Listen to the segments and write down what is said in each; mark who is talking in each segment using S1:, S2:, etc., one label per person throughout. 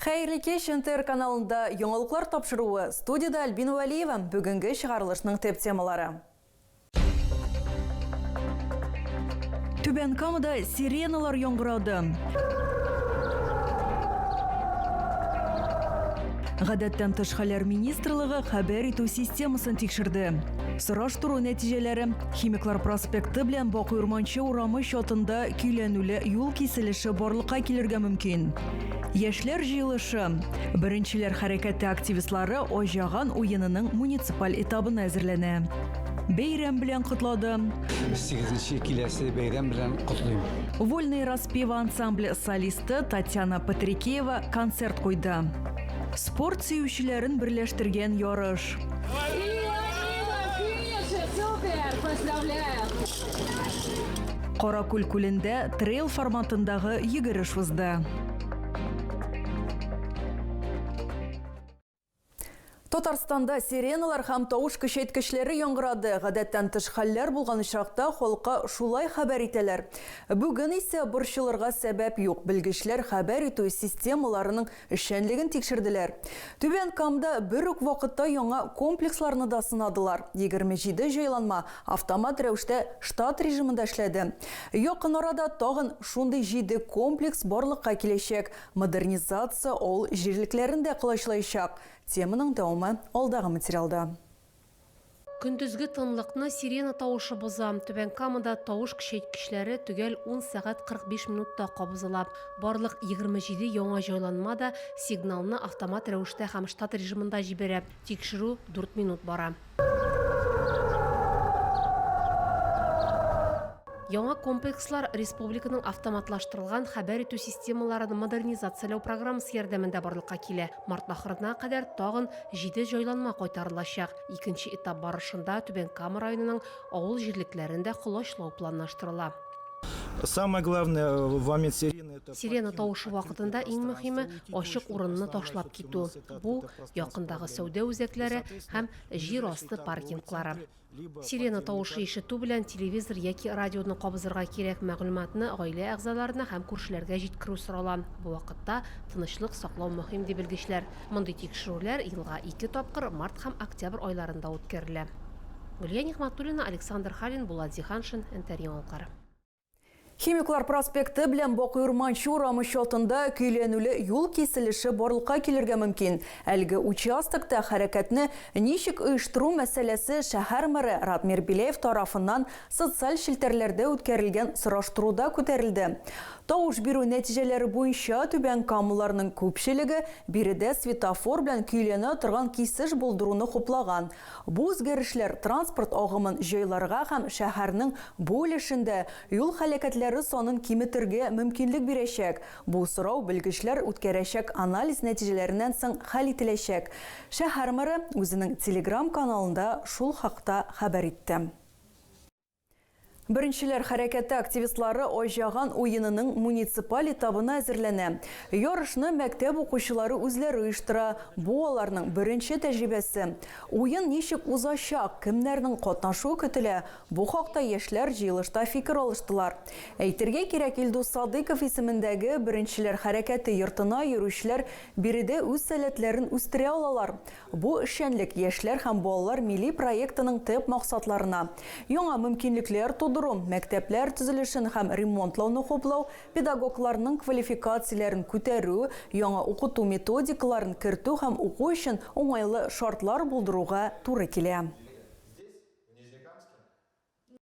S1: Хәерле кич, НТР каналында яңалыклар тапшыруы, студиядә Альбина Вәлиева, бүгенге чыгарылышның төп темалары. Түбән Камада сиреналар яңгырады. Гадәттән тыш хәлләр министрлыгы хәбәр итү системасын тикшерде. Сораштыру нәтиҗәләре Химиклар проспекты белән Бакый Урманчы урамы чатында көйләнүле юл киселеше барлыкка килергә мөмкин. Яшьләр җыелышы. Беренчеләр хәрәкәте активистлары Оҗаган уенының муниципаль этабына әзерләнә. Бәйрәм белән котлады. Сигезенче
S2: киләсе бәйрәм белән котлыйм. Вольные распевы
S1: ансамбле солисты Татьяна Патрикеева концерт куйды. Спорт сөючеләрен берләштергән ярыш. Каракүл күлендә трейл форматындагы йөгереш узды. Татарстанда сиреналар һәм тавыш көчәйткечләре яңгырады. Гадәттән тыш хәлләр булган очракта халыкка шулай хәбәр итәләр. Бүген исә борчылырга сәбәп юк. Белгечләр хәбәр итү системаларының Эшчәнлеген тикшерделәр. Түбән Камда бер үк вакытта яңа комплексларны да сынадылар. Егерме җиде җайланма автомат рәвештә штат режимында эшләде. Якын арада тагын шундый җиде комплекс барлыкка киләчәк. Модернизация авыл җирлекләрен дә колачлаячак. Теманың дәвамы алдагы материалда.
S3: Көндезге тынлыкны сирена тавышы боза. Түбән Камада тавыш көчәйткечләре төгәл 10 сәгать 45 минутта кабызыла. Барлык 27 яңа җайланма да сигналны автомат рәвештә һәм штат режимында җибәрә. Тикшерү дүрт минут бара. Яңа комплекслар республиканың автоматлаштырылган хәбәр итү системаларын модернизацияләү программасы ярдәмендә барлыкка килә. Март ахырына кадәр тагын җиде җайланма кайтарылачак. Икенче этап барышында Түбән Кама районының авыл җирлекләрен дә колачлау планлаштырыла. Самое
S4: главное, в момент сирены, это покинуть Сирена тавышы вакытында
S3: открытое иң мөһиме, пространство, ачык помощь урынны организовать ташлап остановку китү. финансовой Бу, координации якындагы пространства сәүдә үзәкләре һәм җир асты паркинглары. Сирена тавышы ишетү белән телевизор яки радионы кабызырга кирәк мәгълүматны гаилә әгъзаларына һәм күршеләргә җиткерү сорала. Бу вакытта тынычлык саклау мөһим, ди белгечләр. Мондый тикшерүләр елга ике тапкыр, март һәм октябрь айларында үткәрелә. Гөлия Нигъмәтуллина, Александр Халин, Булат Зиһаншин, Интеръяңалыклар.
S1: Химиклар проспекты белән Бакый Урманчы урамы чатында көйләнүле юл киселеше барлыкка килергә мөмкин. Әлеге участокта хәрәкәтне ничек оештыру мәсьәләсе шәһәр мэры Радмир Беляев тарафыннан социаль челтәрләрдә үткәрелгән сораштыруда күтәрелде. Тавыш бирү нәтиҗәләре буенча, түбән камлыларның күпчелеге биредә светофор белән көйләнә торган кисеш булдыруны хуплаган. Бу үзгәрешләр транспорт агымын җайларга һәм шәһәрнең бу өлешендә юл һәлакәтләре санын киметергә мөмкинлек бирәчәк. Бу сорау белгечләр үткәрәчәк анализ нәтиҗәләреннән соң хәл ителәчәк. Шәһәр мэры үзенең Телеграм каналында шул хакта хәбәр итте. Беренчеләр хәрәкәте активистлары Айҗаган уенының муниципаль этабына әзерләнә. Ярышны мәктәп укучылары үзләре оештыра. Бу аларның беренче тәҗрибәсе. Уен ничек узачак, кемнәрнең катнашуы көтелә, бу хакта яшьләр җыелышта фикер алыштылар. Әйтергә кирәк, Илдус Садыйков исемендәге Беренчеләр хәрәкәте йортына йөрүчеләр биредә үз сәләтләрен үстерә алалар. Бу эшчәнлек Яшьләр һәм балалар милли проектының төп максатларына, яңа мөмкинлекләр тудыру, мәктәпләр төзелешен һәм ремонтлауны хуплау, педагогларның квалификацияләрен күтәрү, яңа укыту методикаларын кертү һәм уку өчен уңайлы шартлар булдыруга туры килә.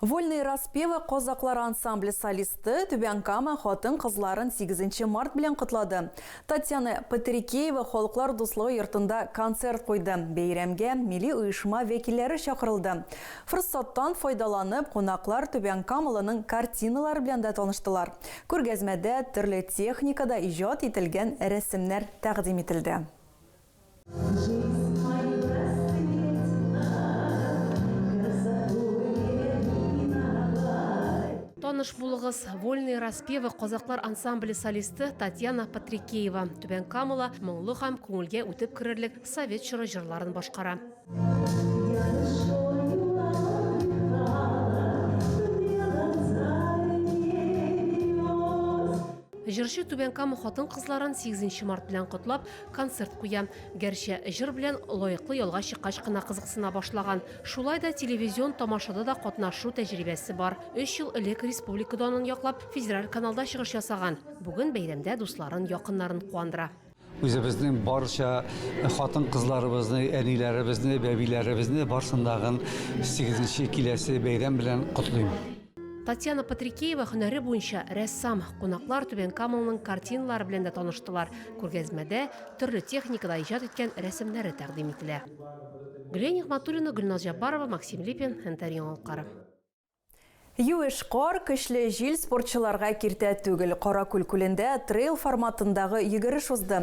S1: Вольные распевы казаклар ансамбле солисты Түбән Кама хатын-кызларын сигезенче март белән котлады. Татьяна Патрикеева Халыклар дуслыгы йортында концерт куйды. Бәйрәмгә милли оешма вәкилләре чакырылды. Форсаттан файдаланып, кунаклар Түбән Камалының картиналары белән дә таныштылар. Күргәзмәдә төрле техникада иҗат ителгән рәсемнәр тәкъдим ителде.
S3: Таныш булыгыз, Вольные распевы казаклар ансамбле солисты Татьяна Патрикеева. Түбән Камала моңлы һәм күңелгә үтеп керерлек совет чоры җырларын башкара. Җырчы Түбән Кама хатын-кызларын 8 март белән котлап, концерт куя. Гәрчә җыр белән лаеклы ялга чыккач кына кызыксына башлаган. Шулай да телевизион тамашада да катнашу тәҗрибәсе бар. Өч ел элек республика данын яклап, федераль каналда чыгыш ясаган. Бүген бәйрәмдә дусларын, якыннарын куандыра. Үзебезнең
S2: барча хатын-кызларыбызны, әниләребезне, бәбиләребезне барсын дагын 8 киләсе бәйрәм белән котлыйм. Татьяна
S3: Патрикеева һөнәре буенча рәссам. Кунаклар Түбән Камалның картиналары белән дә таныштылар. Күргәзмәдә төрле техникада иҗат иткән рәсемнәре тәкъдим ителә. Гөлия Нигъмәтуллина, Гөлназ Җаббарова, Максим Липин, НТР Яңалыклары.
S1: Юеш кар, көчле җил спортчыларга киртә түгел. Каракүл күлендә трейл форматындагы йөгереш узды.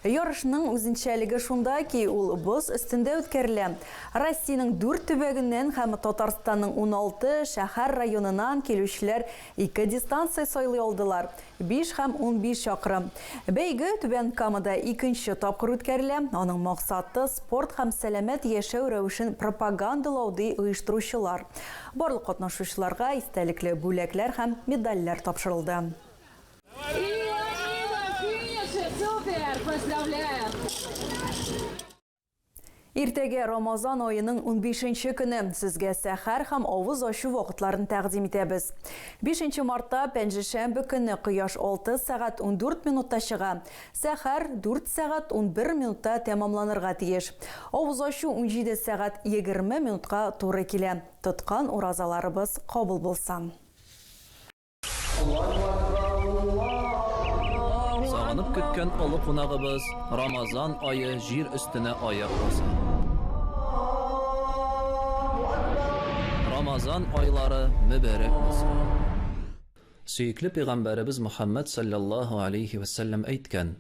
S1: Ярышның үзенчәлеге шунда ки, ул боз өстендә үткәрелә. Россиянең дүрт төбәгеннән һәм Татарстанның уналты шәһәр-районыннан килүчеләр ике дистанция сайлый алдылар, Биш һәм унбиш чакрым. Бәйге Түбән Камада икенче тапкыр үткәрелә. Аның максаты, спорт һәм сәламәт яшәү рәвешен пропагандалау, ди оештыручылар. Барлык катнашучыларга истәлекле бүләкләр һәм медальләр тапшырылды. Иртәгә Рамазан аеның унбишенче көне сезгә сәхәр һәм авыз ачу вакытларын тәкъдим итәбез. Бишенче мартта, пәнҗешәмбе көне кояш алты сәгать ундүрт минутта чыга, сәхәр, дүрт сәгать унбер минутта тәмамланырга тиеш. Авыз ачу унҗиде сәгать егерме минутка туры килә. Тоткан уразаларыбыз кабул булсын!
S5: Сагынып көткән олы кунагыбыз Рамазан ае җир өстенә аяк баса. Рамазан айлары мөбәрәк булсын! Сөекле пәйгамбәребез Мөхәммәд салләллаһу алейһи вә сәлләм әйткән,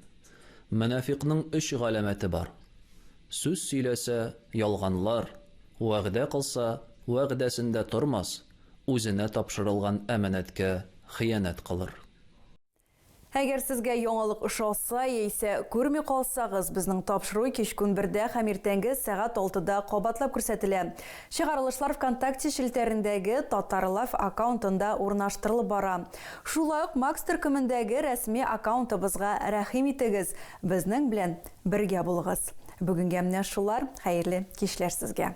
S5: Мөнафикъның өч галәмәте бар, сүз сөйләсә, ялганлар, вәгъдә кылса, вәгъдәсендә тормас, Үзенә тапшырылган әманәткә хыянәт кылыр.
S1: Әгәр сезгә яңалык ошаса, яисә күрми калсагыз, безнең тапшыру кичкүн бердә һәм иртәнге сәгать алтыда кабатлап күрсәтелә. Чыгарылышлар Вконтакте челтәрендәге Татарлайф аккаунтында урнаштырылып бара. Шулай ук Макс төркемендәге рәсми аккаунтыбызга рәхим итегез, безнең белән бергә булыгыз. Бүгенгә менә шулар, хәерле кичләр сезгә!